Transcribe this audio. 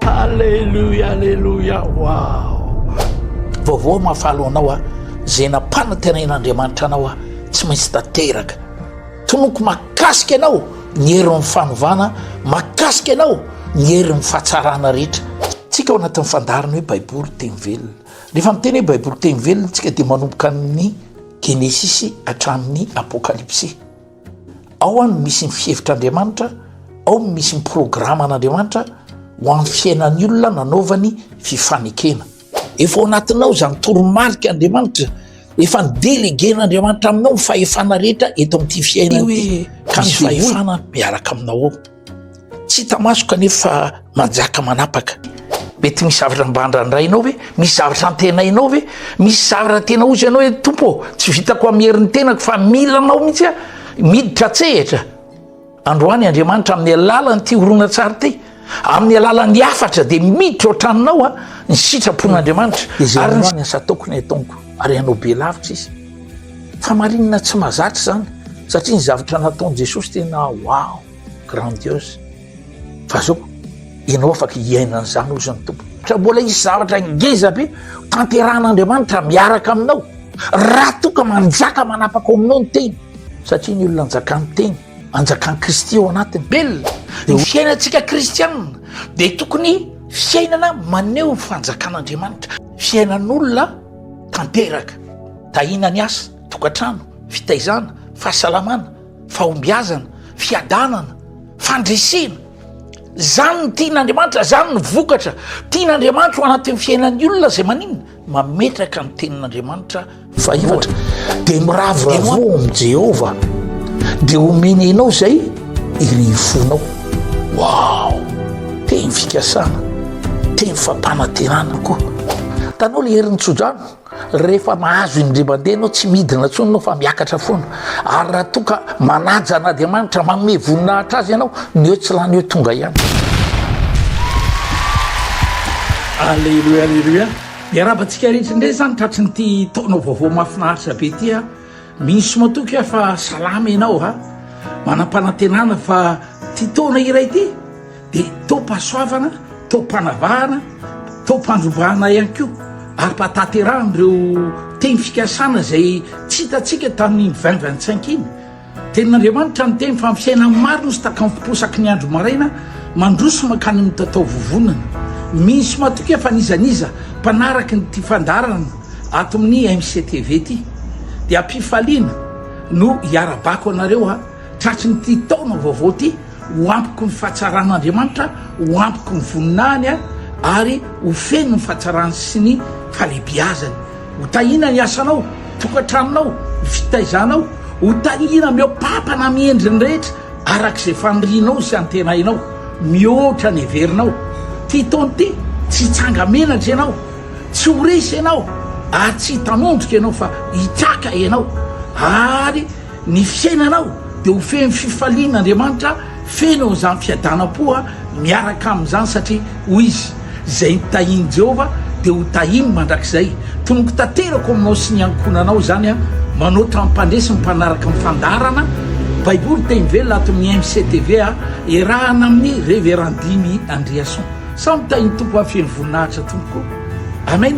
Aleloia aleloia waoo vaovao mahafaly ho anao aho zay nampanantenain'Andriamanitra anao aho tsy maintsy tanteraka tonoko makasika anao ny herin'ny fanovana makasika anao ny herin'ny fahatsarana rehetra tsika ao anatin'ny fandariny hoe baiboly teny velona rehefa miteny hoe baiboly teny velona tsika dia manomboka amin'ny genesisy hatramin'ny apokalypsy Ao no misy ny fihevitr'Andriamanitra, ao no misy ny programan'Andriamanitra ho an'ny fiainan'ny olona nanaovany fifanekena. Efa ao anatinao izany toromarika Andriamanitra, efa ny déléguer Andriamanitra aminao ny fahefana rehetra eto amin'ity fiainana ity, ka ny fahefana miaraka aminao ao. Tsy hita maso kanefa manjaka manapaka. Mety misy zavatra mba andrandrainao ve? Misy zavatra antenainao ve? Misy zavatra tena ozy ianao hoe tompo tsy vitako amin'ny herin'ny tenako fa mila anao mihitsy a miditra tsehatra androany andriamanitra amin'ny alalan'ny ty horonantsary ty amin'ny alalan'ny hafatra dia miditra ohatranonao a ny sitrapon'andriamanitra ary ny sataoko ny ataonko ary ianao be lavitra izy Famarinana tsy mazatra izany satria ny zavatra nataon'i Jesosy tena wow, grandiose fa zao ianao afaka hiaina an'izany hoy izany Tompo. Ka mbola hisy zavatra ngeza be tanterahan'Andriamanitra miaraka aminao raha toa ka manjaka manapaka ao aminao ny teny satria ny olona anjakan'ny teny anjakan'i Kristy ao anatiny. Bel, ny fiainantsika kristianina dia tokony fiainana maneho ny fanjakan'Andriamanitra, fiainan'olona tanteraka. Tahiana ny asa, tokantrano, fitaizana, fahasalamana, fahombiazana, fiadanana, fandresena. Izany no tian'Andriamanitra, izany no vokatra tian'Andriamanitra ho anatin'ny fiainan'ny olona izay maninona? Mametraka ny tenin'Andriamanitra fahefatra. Dia miravoravoa amin'i Jehovah, dia omeny anao izay. Iry fonao, wow! Teny fikasana, teny fampanatenana koa. Hitanao le herin'ny tsodrano, rehefa mahazo indray mandeha ianao tsy midina intsony ianao fa miakatra foana. Ary raha toa ka manaja an'Andriamanitra, manome voninahitra azy ianao, ny eo tsy lany eo tonga ihany. Aleloia, aleloia. Miarahaba antsika rehetra indray izany tratry ny ity taona vaovao mahafinaritra be ity. Minsy matoky aho fa salama ianao a! Manam-panantenana fa ity taona iray ity dia taom-pahasoavana, taom-panavahana, taom-pandrovana ihany koa ary mba tanterahan'ireo teny fikasana izay tsy hitantsika tamin'iny vingt vingt cinq iny. Tenin'Andriamanitra ny teny fa amin'ny fiainan'ny maro misy takam-posaky ny andro maraina mandroso mankany amin'ny tatao vovonana. Minsy matoky aho fa n'iza n'iza mpanaraky ny tia fandaharana ato amin'ny MCTV ity dia ampifaliana no hiara-bako anareo a tratry ny ity taona vaovao ity ho ampiko ny fahatsaran'Andriamanitra ho ampiko ny voninahiny a ary ho feno ny fahatsarany sy ny falebiazany ho tahina ny asanao tokantranonao ny fitaizanao ho tahina mihoa-pampana amin'ny endriny rehetra araka izay fanirianao sy antenainao mihoatra ny heverinao ity taona ity tsy tsanga-menatra ianao tsy ho resy ianao ary tsy hitanondrika ianao fa hitsaka ianao ary ny fiainanao dia ho feno fifaliana Andriamanitra feno an'izany fiadanam-poa miaraka amin'izany satria hoy izy izay nitahian'i Jehovah dia ho tahiny mandrakizay tonoko tanterako aminao sy ny ankohonanao izany aho manao trampandresy mpanaraka ny fandaharana Baiboly teny velona ato amin'ny MCTV iarahana amin'ny Reverend Dimy Andriason Samy tahin'ny Tompo hafeno voninahitra tompoko. Amen.